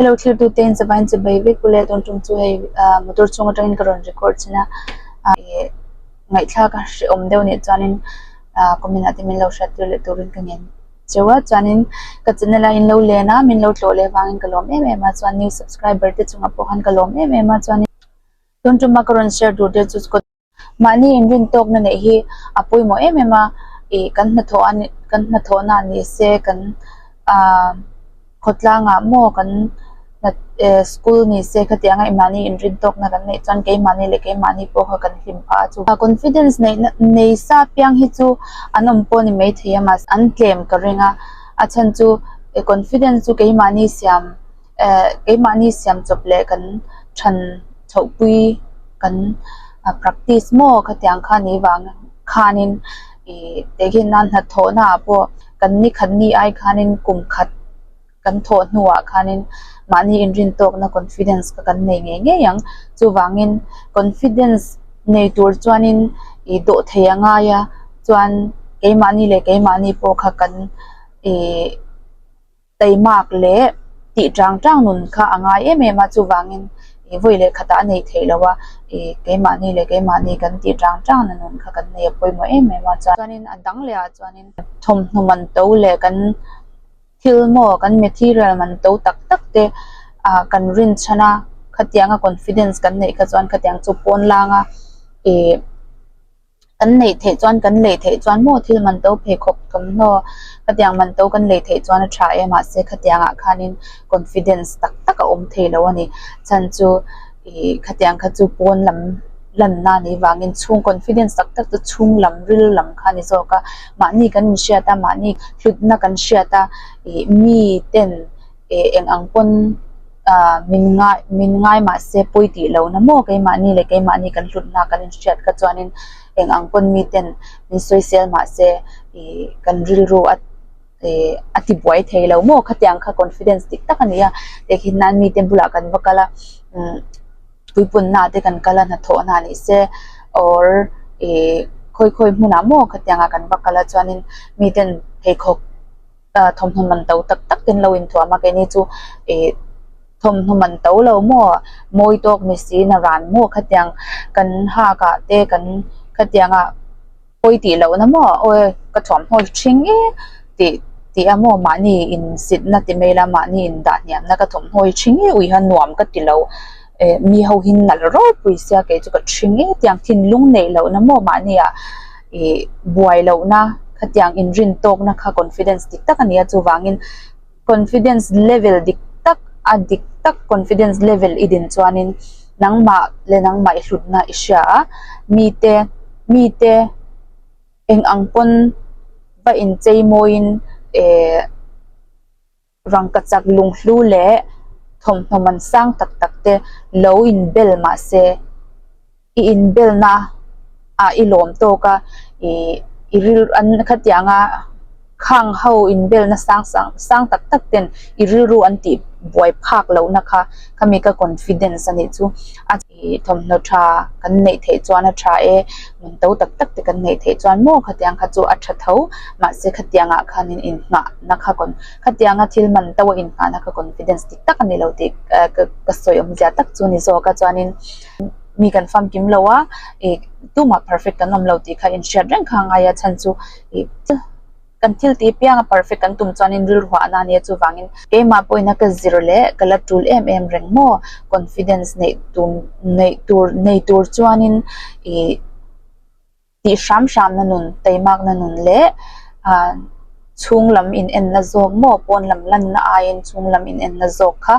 Hello thirtu te in chavain chu bei vek u le dawn ṭawng chu hei ah motor chhung aṭang in ka rawn record chin a ih ngaihthlak a hre awm deuh nih chuan in ah comment ah te min lo hriat tir leh tur in ka ngen che a chuan in ka chenna lai in lo len a min lo tlawh leh vang in ka lawm em em a chuan new subscriber te chung ah pawh khan ka lawm em em a chuan in dawn ṭawng a ka rawn share tur te chu. Mahni in rin tawk na neih hi a pawimawh em em a, ih kan hnathawh a ni kan hnathawh na ni se kan ah khawtlang ah maw kan hna eh school ni se kha tiang aih mahni in rin tawk na kan neih chuan kei mahni leh kei mahni pawh kha kan hlim pha a chu a confidence nei na nei sa piang hi chu an awm pawh ani maithei a mahse an tlem ka ring a a chhan chu eh confidence chu kei mahni siam keimahni siam chawp leh kan chhan chhohpui kan practice maw ka tiang kha ni vang khanin ih tihian nan hnathawh na ah pawh kan ni khat ni ai khanin kum khat kan thawh hnu ah khanin mahni inrin tawk na confidence ka kan nei ngei ngei ang chuvangin confidence nei tur chuanin ih dawh thei a ngai a chuan keimahni leh keimahni pawh kha kan ih. Teimak leh tih chang chang nun kha a ngai em em a, chuvangin ih vawi leh khatah a neih theih lo a, ih keimahni leh keimahni kan tih chang chang na nun kha kan nei a pawimawh em em a, chuanin a dang lehah chuanin thawmhnaw man to leh kan thil maw kan material man to tak tak te ah kan rin chhan a, khatianga confidence kan neih kha chuan khatiang chu pawn langa ih. Kan neih theih chuan kan lei theih chuan maw thil man to pheikhawp thawmhnaw khatiang man to kan lei theih chuan a tha e mahse khatiang ah khanin confidence tak tak a awm thei lo a ni chhan chu ih khatiang kha chu pawn lam lan na ni vangin chhung confidence tak tak chu chhung lam ril lam kha a ni zawk a mahni kan in hriat a mahni hlutna kan hriat a ih mi ten e eng ang pawn ah min ngai min ngai mah se pawi tih lo na maw keimahni leh keimahni kan hlut na kan inhriat kha chuanin eng ang pawn mi ten min sawi sel mah se ih kan rilru a eh a ti buai thei lo maw khati ang kha confidence dik tak a ni a hei nan mite bulah kan va kal a umm puipunna ah te kan kal a hnathawhna ah ni se or ih khawi khawi hmunah maw khatiang ah kan va kal a chuanin miten pheikhawk-- A thawmhnaw man to tak tak ten lo inthuam a keini chu ih thawmhnaw man to lo maw mawi tawk ni sina ran maw khatiang kan hak ah te kan khatiang ah pawi tih loh na maw aw e ka thawmhnaw hi thing e tih tih a maw mahni insitna ti mai ila mahni indah hniam na ka thawmhnaw hi thing e uiha nuam ka ti lo. eh mi ho hi nalh rawh pui sia kei chu ka hri ngei tiang thinlung neih loh na maw mah nia ih buai loh na khatiang inrin tawk na kha confidence dik tak a ni a chuvangin confidence level dik tak a dik tak confidence level i din chuanin nangmah leh nangmah i hlut na i hria a mite mite eng ang pawn va inchei mawiin eh. Rangkachak lunghlu leh thawmhnawn sang tak tak te lo in bel mahse i in bel na ah i lawm tawk a i ril an khatiah anga khang ho in bel na sang sang tak tak ten i rilru an tih buai phak lohna kha khami ka confidence a nih chu a Ih thawmhnaw tha kan neih theih chuan a tha e, nun to tak tak te kan neih theih chuan maw khatiang kha chu a tha tho, mahse khatiang ah khanin in nghah na kha kawn khatianga thil man to a in nghah na kha confidence dik tak a ni lo tih ka ka sawi awm zia tak chu ni zawk a chuanin mi kan famkim lo a ih tumah perfect kan awm lo tih kha in hriat reng kha a ngai a chhan chu ih Kan thil ti piang a perfect kan tum chuanin rilruah a na nia chuvangin keimah pawhin a ka zir leh ka la tul em em reng maw confidence neih tum neih tur nei tur chuanin ih tih hram hram na nun teimak na nun leh ah chhung lam in en na zawk maw pawn lam lan na aiin chhung lam in en na zawk kha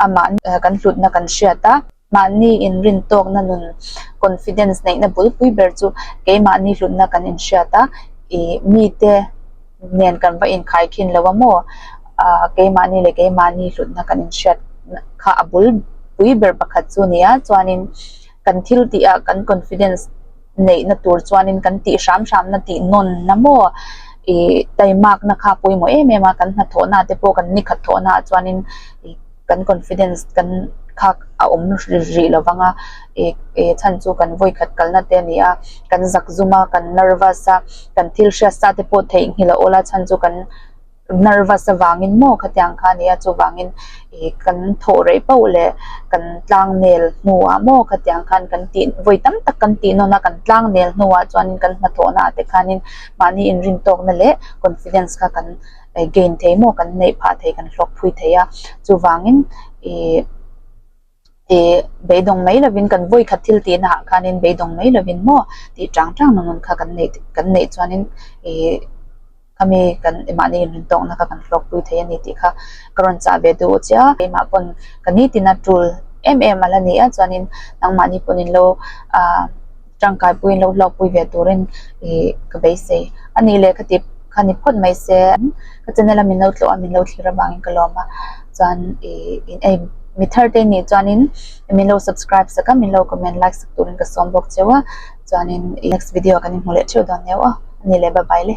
amah kan hlutna kan hriat a. Mahni inrintawkna nun confidence neihna bulpui ber chu keimahni hlutna kan inhriat a, i mite nen kan va inkhai khin lo a maw ah keimahni leh keimahni hlutna kan inhriat kha a bulpui ber pakhat chu a ni a, chuanin kan thil tihah kan confidence neihna tur chuanin kan tih hram hramna tih nawnna maw ih taimakna kha pawimawh em em a kan hna thawhnaah te pawh kan ni khat thawhnaah chuanin ih kan confidence kan kha a awm rih rih lo vang a ih ih chhan chu kan vawi khat kalna te a ni a kan zak zuma kan nervous a kan thil hriatsa te pawh theih nghil a awla chhan chu kan Nervous avangin maw khatiang kha nia chuvangin ih kan thawh rei pauh leh kan tlang nel hnuah maw khatiang khan kan tih vawi tam tak kan tih nawn a kan tlang nel hnuah chuan kan hnathawhna ah te khanin mahni inrin tawkna leh confidence kha kan gain thei maw kan neih phah thei kan hlawk phui thei a chuvangin ih. Te, beidawng mai lovin kan vawi khat thil tihna ah khanin beidawng mai lovin maw tih chang chang na nun kha kan neih te kan neih chuanin ih khami kan mahni inrin tawkna kha kan hlawkpui thei a ni tih kha ka rawn chah ve duh chiah a, keimah pawn ka nitin a tul em em a la nia chuanin nangmahni pawn in lo ah. tangkaipuiin lo hlawkpui ve turin ih ka beisei a nih leh ka tih ka ni phawt mai se ka chen ila min lo tlawha min lo thlir avangin ka lawm a chuan ih ei mi thar te nih chuanin min lo subscribe sak a min lo comment like sak turin ka sawm bawk cheu a chuanin next video kan inhmu leh theuh dawn neuh a ni leh bye bye le.